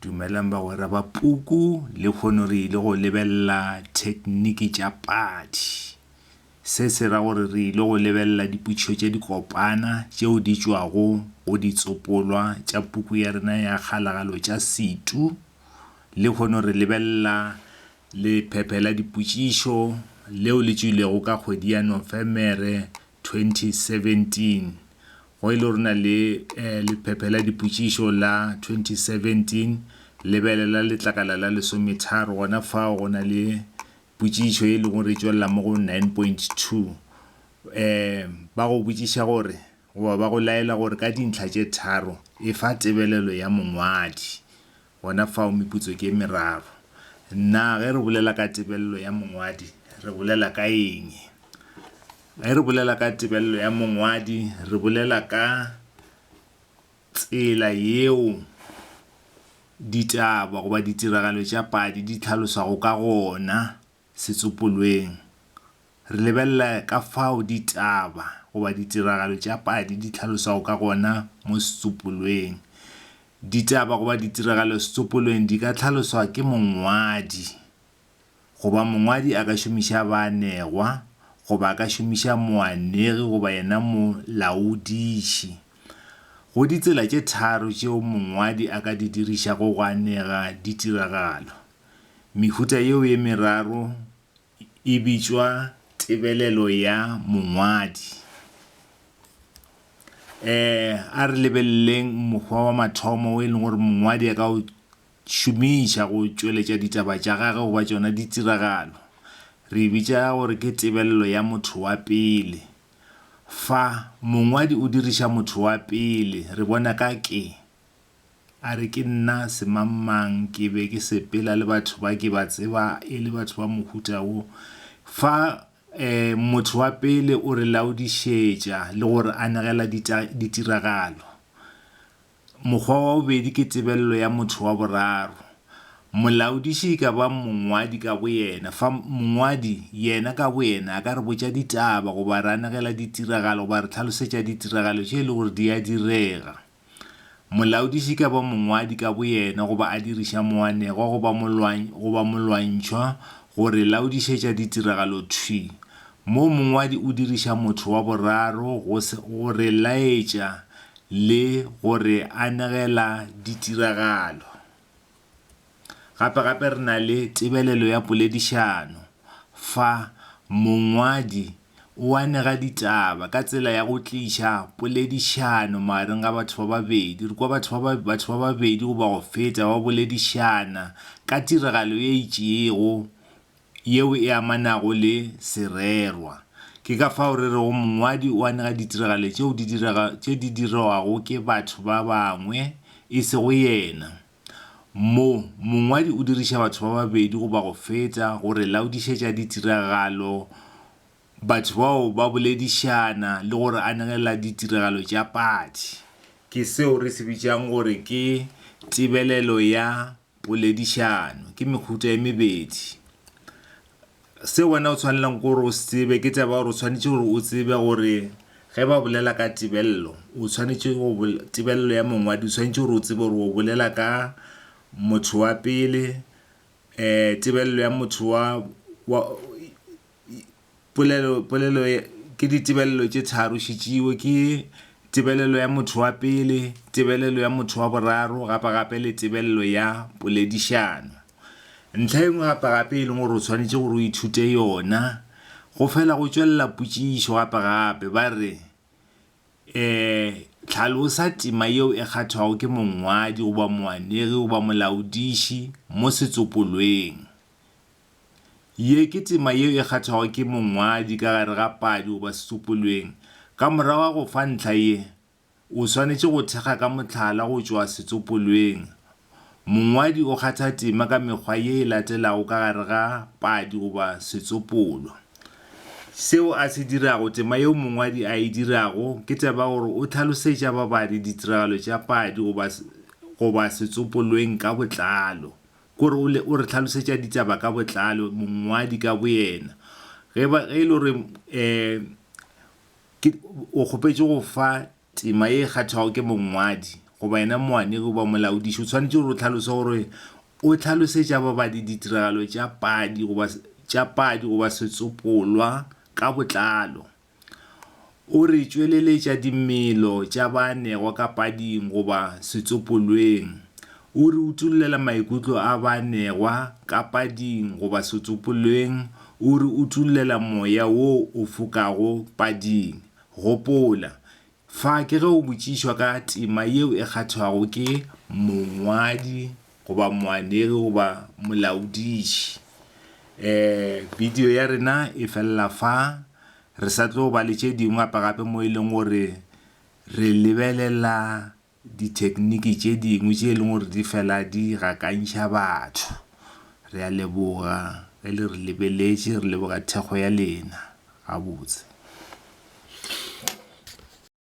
Dumelang bagwera ba puku, lekhono re ile go lebelela thekniki tša padi. Se se ra gore re ile go lebelela dipotšišo tša dikopana tšeo di tšwago go ditsopolwa tša puku ya rena ya Kgalagalo tša Setu. Lekhono re lebelela lephephe la dipotšišo leo le tšwilego ka kgwedi ya Nofemere 2017 Go e le gore na le lephephe la dipotšišo la 2017, lebelela letlakala la lesometharo. Gona fao go na le potšišo e lego gore e tšwelela mo go 9.2. Ba go botšiša gore goba ba go laela gore ka dintlha tše tharo efa tebelelo ya mongwadi. Gona fao meputso ke e meraro. Na ge re bolela ka tebello ya mongwadi re bolela ka eng? Ge re bolela ka tebello ya mongwadi re bolela ka tsela yeo ditaba goba ditiragalo tša padi di tlhaloswago ka gona. Setsopolweng, re lebelela ka fao ditaba goba ditiragalo tša padi di hlaloswago ka gona mo setsopolweng. Ditaba goba ditiragalo setsopolweng di ka hlaloswa ke mongwadi, goba mongwadi a ka šomiša baanegwa, goba a ka šomiša moanegi goba yena molaodiši. Go ditsela tše tharo tšeo mongwadi a ka di dirišago go anega ditiragalo. Mehuta yeo e meraro e bitšwa tebelelo ya mongwadi. E, a re lebeleleng mokgwa wa mathomo o e leng gore mongwadi a ka o šomiša go tšweletša ditaba tša gage goba tšona ditiragalo. Re e bitša gore ke tebelelo ya motho wa pele. Fa, mongwadi o diriša motho wa pele, re bona ka ke. A re, Ke nna semangmang, ke be ke sepela le batho ba ke ba tseba e le batho ba mohuta wo. Fa um motho wa pele o re laodišetša le go re anegela ditiragalo. Mokgwa wa bobedi ke tebelelo ya motho wa boraro. Molaodiši e ka ba mongwadi ka boyena, fa mongwadi yena ka boyena a ka re botša ditaba goba a re anegela ditiragalo goba a re hlalosetša ditiragalo tše e le gore di a direga. Molaodiši ka ba mongwadi ka boyena goba a diriša moanegwa goba molwany goba molwantšhwa go re laodišetša ditiragalo thwi, moo mongwadi o diriša motho wa boraro go go re laetša le go re anegela ditiragalo. Gape-gape re na le tebelelo ya poledišano, fa mongwadi o anega ditaba ka tsela ya go tliša poledišano magareng ga batho ba babedi. Re kwa batho ba batho ba babedi goba go feta ba boledišana ka tiragalo ye itšego yeo e amanago le sererwa. Ke ka fao re rego mongwadi o anega ditiragalo tšeo di tše di dirwago ke batho ba bangwe, e sego yena. Mo, mongwadi o diriša batho ba babedi goba go feta go re laodišetša ditiragalo, batho bao ba boledišana le go re anegela ditiragalo tša padi. Ke seo re se bitšang gore ke tebelelo ya poledišano. Ke mehuta e mebedi. Se wena o tshwanelang ke gore o se tsebe ke taba ya gore o tshwanetše gore o tsebe gore ge ba bolela ka tebello, o tshwanetše go tebello ya mongwadi o tshwanetše gore o tsebe gore o bolela ka motho wa pele, um tebello ya motho wa wa polelo polelo ke ditebello tše tharo šetšeo ke tebelelo ya motho wa pele, tebelelo ya motho wa boraro gapa gape le tebello ya poledišano. Ntlha e nngwe gape-gape e leng gore o tshwanetše gore o ithute yona, go fela go tšwelela potšišo gape-gape. Ba re, um Hlalosa tema yeo e kgathwago ke mongwadi goba moanegi goba molaodiši mo setsopolweng. Ye ke tema yeo e kgathwago ke mongwadi ka gare ga padi goba setsopolweng. Ka morago ga go fa ntlha ye, O swanetše go thekga ka mohlala go tšwa setsopolweng. Mongwadi o kgatha tema ka mekgwa ye e latelago ka gare ga padi goba setsopolwa. Seo a se dirago, tema yeo mongwadi a e dirago, ke taba ya gore o hlalosetša babadi ditiragalo tša padi goba goba setsopolweng ka botlalo. Ke gore o le o re hlalosetša ditaba ka botlalo, mongwadi ka boyena. Ge ba ge e le gore um Ke o kgopetše go fa tema ye e kgathwago ke mongwadi goba yena moanegi goba molaodiši, o swanetše gore o hlalose gore o hlalosetša babadi ditiragalo tša padi goba tša padi goba setsopolwa ka botlalo. O re tšweleletša dimelo tša baanegwa ka pading goba setsopolweng O re utollela maikutlo a baanegwa ka pading goba setsopolweng, o re utollela moya wo o fokago pading. Gopola, fa ke ge o botšišwa ka tema yeo e kgathwago ke mongwadi goba moanegi goba molaodiši. E, bidio ya rena e felela fa, re sa tlo ba le tše dingwe gape-gape mo e leng gore re lebelela dithekniki tše dingwe tše e leng gore di fela di gakantšha batho. Re a leboga ge le re lebeletše, re leboga thekgo ya lena gabotse.